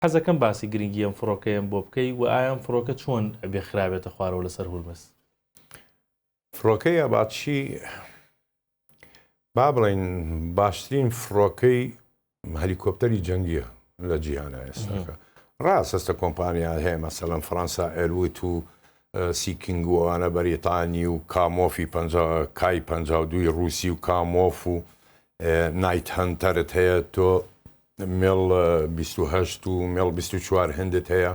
حەزەکەم باسی گرنگی ئەم فڕۆکەیەم بۆ بکەی وە ئایا ئەم فڕۆکە چۆن ئەبێ خرابێتە خوارەوە لەسەر هورمز. فڕۆکەی ئاباتشی با بڵێین باشترین فڕۆکەی هەلیکۆپتەری جەنگیە لە جیهانە ئێستاکە ڕاست هەستە کۆمپانیا هەیە مەسەلەن فەەنسا ئەروت و سیکینگووانە بەریتانی و کامۆفی کای پ دوی ڕوسی و کامۆف و نایت هەنتەرت هەیە تۆ مل بیست و هەشت و مل بیست و چوار هندت هەیە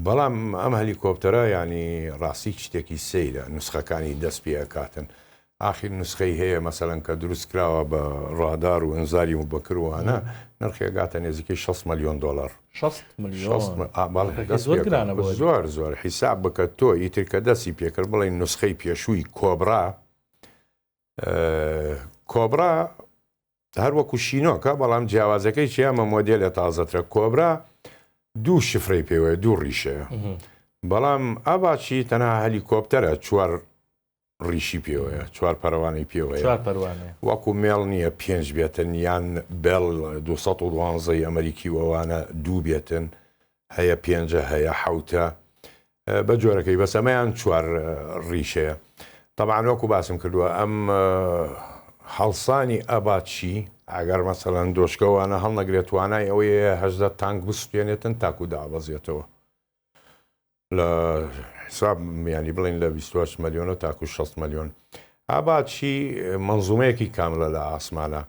بەڵام ئەم هەلیکۆپتەرە ینی ڕاستی شتێکی سەیرە نسخەکانی دەست پێ ئەکاتن ئاخیر نسخەی هەیە مەسەرەن کە دروست کراوە بە ڕادار و ئەنزاری و بەکروانە نرخێگاتە نێزیکەی 6 ملیۆن دلار زۆر زۆر حیساب بکە تۆ ئیتر کە دەستی پێکرد بڵێ نسخەی پێشووی کۆبرا کۆبرا هەر وەکو شینۆکە بەڵام جیاوازەکەی چیە ئەمە مۆدێلە تازەترە کۆبرا دوو شفرەی پێوەیە دوو ڕیشەیە بەڵام ئاڤاچی تەنها هەلیکۆپتەرە چوار ڕیشی پێوەیە چوار پەروانەی پێوەیە وەکو مێڵ نییە پێنج بێتن یان بێڵ 212 ئەمریکی وەوانە دوو بێتن هەیە پێنجە هەیە حەوتە بە جۆرەکەی بەس ئەمەیان چوار ڕیشەیە تەبان وەکو باسم کردووە ئەم هەڵسانی ئەباچی ئەگەر مەسەەن دۆشکەوانە هەڵنەگرێت توانای ئەوەیە هەزدە تانک بسوێنێتن تاکو دابەزێتەوە لە حساب میانی بڵین لە 28 ملیۆنە تاکو 6 ملیۆن ئاباچی منزومەیەکی کاملە لە ئاسمانە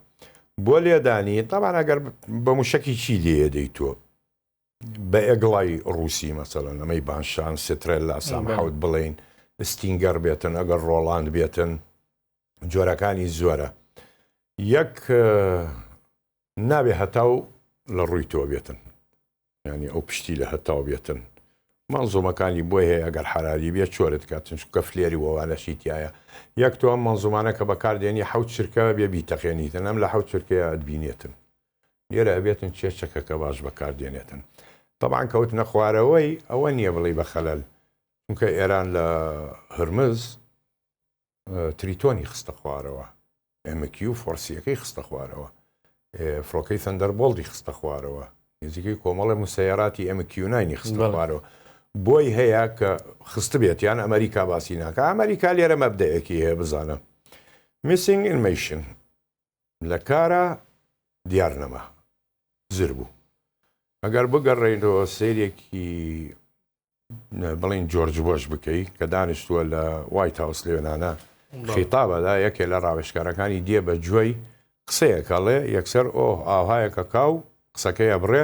بۆ لێدانی تاوان ئەگەر بە موشکی چی لێدەی تۆ بەئەگڵای ڕووسی مەسەلەن ئەمەی بانشان سترێل لا سام حەوت بڵین ستینگەر بێتن ئەگەر ڕۆڵاند بێتن جۆرەکانی زۆرە یەک نابێ هەتاو لە ڕووی تۆ بێتن ینی ئەو پشتی لە هەتاو بێتن مەنزومەکانی بۆی هەیە ئەگەر حرالی بێ چۆرت کاتن چکە فلێری وەوانەشی تایە یەک تۆ ئەم مەنزومانە کە بەکاردێنی حوت چرکە بێ بیتەقێنیتن ئەم لە حوت چرکەیە بینێتن لێرە ئەبێتن چێ چەکەکە باش بەکار دێنێتن تەبان کەوتنە خوارەوەی ئەوە نییە بڵی بە خەلەل چونکە ئێران لە هرمز تریتۆنی خستە خوارەوە ئەمەکی و فۆرسیەکەی خستە خوارەوە فڕۆکەی سندەر بۆڵدی خستە خوارەوە نزیکەی کۆمەڵە موسەیەراتی ئەمەکیوناینی خستە خوارەوە بۆی هەیە کە خست بێت یان ئەمریکا باسی ناکە ئەمریکا لێرە مەبدەیەکی هەیە بزانە میسینگ ئینمیشن لە کارا دیار نەما زر بوو. ئەگەر بگەڕێینەوە سەیرێکی بڵێین جۆرج بۆش بکەی کە دانیشتووە لە وایت هاوس لێنانە خیتابەدا یەکێ لە ڕاوێشکارەکانی دێ بە جوێی قسەیەکەڵێ یەکسەر ئۆه ئاوهایەکە کاو قسەکەیە بڕێ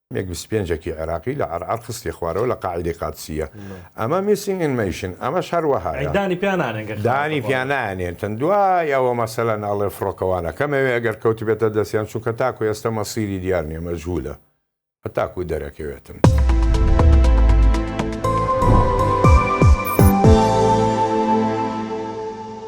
مێگ بیست و پێنج ەکی عێراقی لە عەرعەر خستیە خوارەوە لە قاعیدەی قادسییە ئەمە میسینگ ئین مەیشن ئەمەش هەر وەهایە دانی پیا نانێن گەر خراپە دانی پیا بەڵام. نانێنتن دوای ئەوە مەسەلەن ئەڵێ فڕۆکەوانە کەمەوێ ئەگەر کەوتبێتە دەستیان چونکە تاکو ئێستە مەسیری دیار نیە مەجهولە هەتاکو دەرەکەوێتن.